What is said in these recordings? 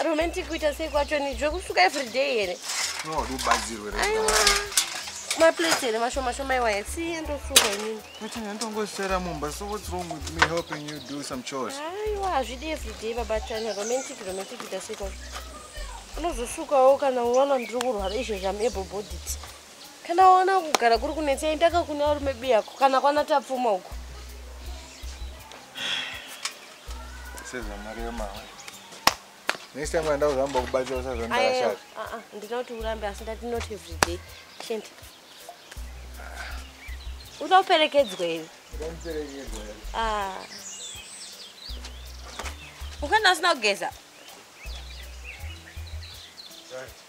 Ah, romantic kuita sei kwacho ni zvekusuka everyday here nowadi ubatsirwe aiwa maplates here mashoma shoma iwaya siye ndosuka inini kuti ndandongosera mumba so what's wrong with me helping you do some chores aiwa hazvidi everyday baba china romantic romantic kuita sei kwacho unozosukawo kana unoona ndiri kurwara izvezvi am able bodied kana waona kugara kuri kunetsa endaka kune varume biyako kana kwana tapfuma uko sezvamari yemama next time anda kuzvamba kubatsira usazvandashata ah, ah, ndina kuti urambe asi ndati not every day shend uda uperekedzwa here ah. ukana asina kugeza right.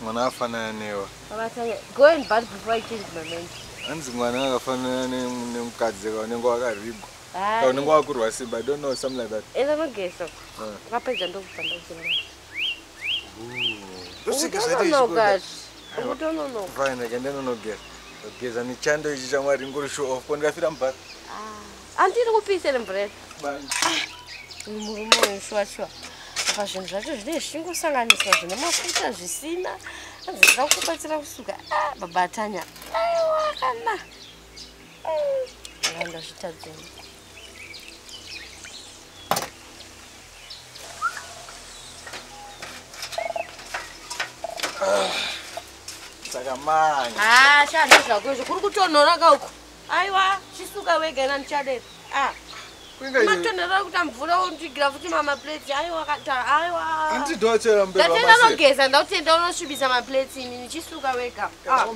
mwana afanana newa go and bath before i change my mind hanzi mwana akafanana nemukadzi ka unenge wakaribwa ka unenge wakurwa simba i don't know something like that enda nogesa ukapedza ndokubva ndozima ukutononoka ndokugeza nechando ichi chamwari ngori show off ko ndikafira mubhara andiri kupisa iri mvura iri murume uyu shuwa shuwa apa zvinhu zvacho zvinenge zvichingosanganiswa zvine mafuta zvisina anzi zvoda kukubatsira kusuka ah, baba atanya aiwa kana mm. ndazvitadzeni saka manya ah, shaa ndozvako izvo kuri kutonhora kauko aiwa chisuka wega ina ndichadei ah matonhera kuti amvura ondigira futi mamaplates aiwa kata aiwa andidochera mberi ndatenda nogeza ndakutenda unosvibisa maplates ini ndichisuka wega ah.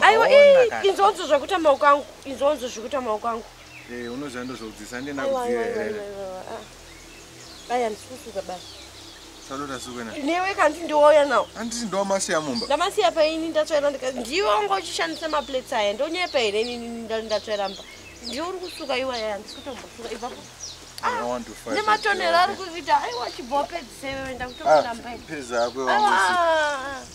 aiwa inzonzo zvakuita maoko angu inzonzo zvikuita maoko angu eh, unozvandozvaudzisa ndinakuziva here Aya ndisusuka baba. Chaloda sukwena. Newe kanti ndiwoya now. Anditi ndo masiya mumba. Ndamasiya pa ini ndatsvaira ndika ndiwe wanga uchishandisa ma plates aya ndonyepa here ini ndatsvaira mba. Ndiwe uri kusuka iwa yaya ndikutombosuka ipapo. Ah, nematonero ari kuzvita aiwa chibopedzise wewe ndakutokutamba. Ah, peza akwe wangu.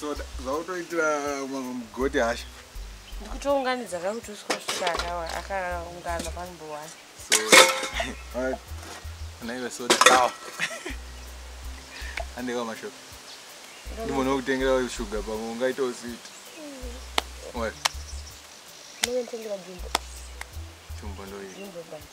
soda zvautoitira mugoti hasha ndikutounganidza kakuti uswa svika akawa akaungana panumber one anaive soda awa andeka mashoko ndimona kutengera shuga pamwe ungaita usiti mm. jumbo ndoii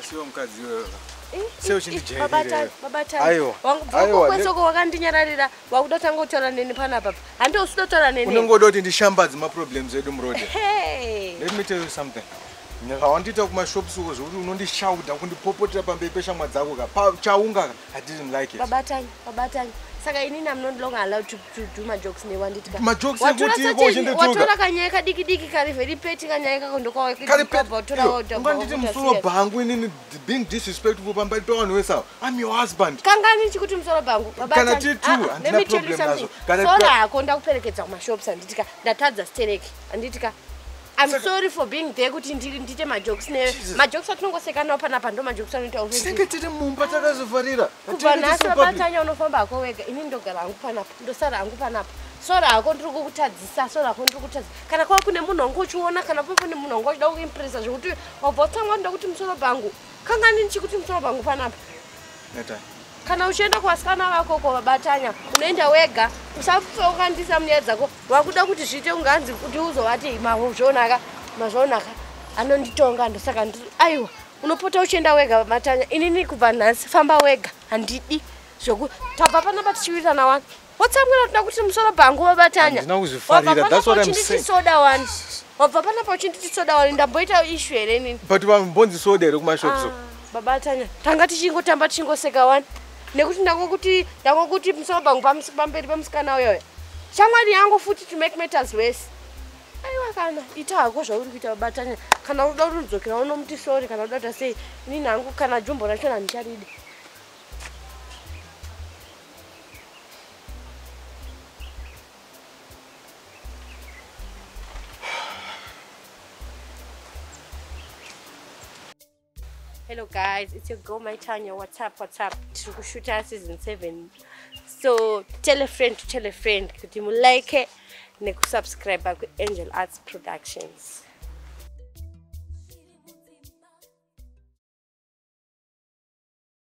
Asiwo mukadzi iwewe. Sei uchindijairira? Aiwa. Wangubvokweso wakandinyararira wakuda kutanga kutaura neni panapa. Hande usida kutaura neni. Unongoda kuti ndishambadze ma problems edu muroad. Hey. Let me tell you something. Nyaka wandiita kuma shops uko zvekuti unondishauda kundipopotera pamberi peshamwa dzako ka. Chaunga ka. I didn't like it. Baba Tanya, Baba Tanya. Saka ini I'm not longer allowed to, to do my jokes ne wanditi ka. My jokes are good to go in the toga. Watora kanyaya ka diki diki kari very petty kanyaya ka kondo kwa kiti. Kari petty. Watora watora. Unga nditi musoro bangu ini ni being disrespectful pamba ipa wanu wesa. I'm your husband. Kanga ni chikuti musoro bangu. Baba Tanya. Kana ti tu ah, and na problem nazo. Kana sora hako ndakuperekedza kuma shops anditi ka. Ndatadza stereki. Anditi ka. I'm Saka... sorry for being there kuti ndiri ndite majokes ne majokes atinongosekanawo panapa ndo majokes anoita uri. Tinenge tiri mumba takazovharira. Kubva nhasi wabatanya unofamba hako wega ini ndogara hangu panapa ndosara hangu panapa. Sora hako ndiri kukutadzisa sora hako ndiri kutadzisa kana kwava kune munhu wangu uchiona kana pava kune munhu wangu wachida kuimpresa zvekuti wabva utanga ndoda kuti musoro pangu kangani ndichikuti musoro pangu panapa. Neta kana uchienda kuvasikana vako ko vabatanya unoenda wega usafokandisa munyaya dzako wakuda kuti zviite kunge anzi kuti uzovati mazvonaka mazvonaka anonditonga ndosaka aiwa unopota uchienda wega matanya inini kubva nhasi famba wega handidi zvoku tabva panapa tichiwirirana wani wotsamwira toda kuti musoro bhangu wabatanya wabva panapa uchinditi soda wani wabva panapa uchinditi soda wani ndamboita ishu here inini but vambonzi soda here kumashops ah, babatanya tanga tichingotamba tichingoseka wani nekuti ndakokuti ndakokuti musoro pangu pamberi pamusikana uyoyo shamwari yangu futi to make matters worse aiwa kana ita hako zvauri kuita batanya kana uda kuti udzokera unomuti sori kana uda kuita sei ini nangu kana jumbo racho handicharidi hello guys it's your girl my tanya what's up what's up tiri kushuta season seven so tell a friend to tell a friend kuti mulike nekusubscribe kuangel arts productions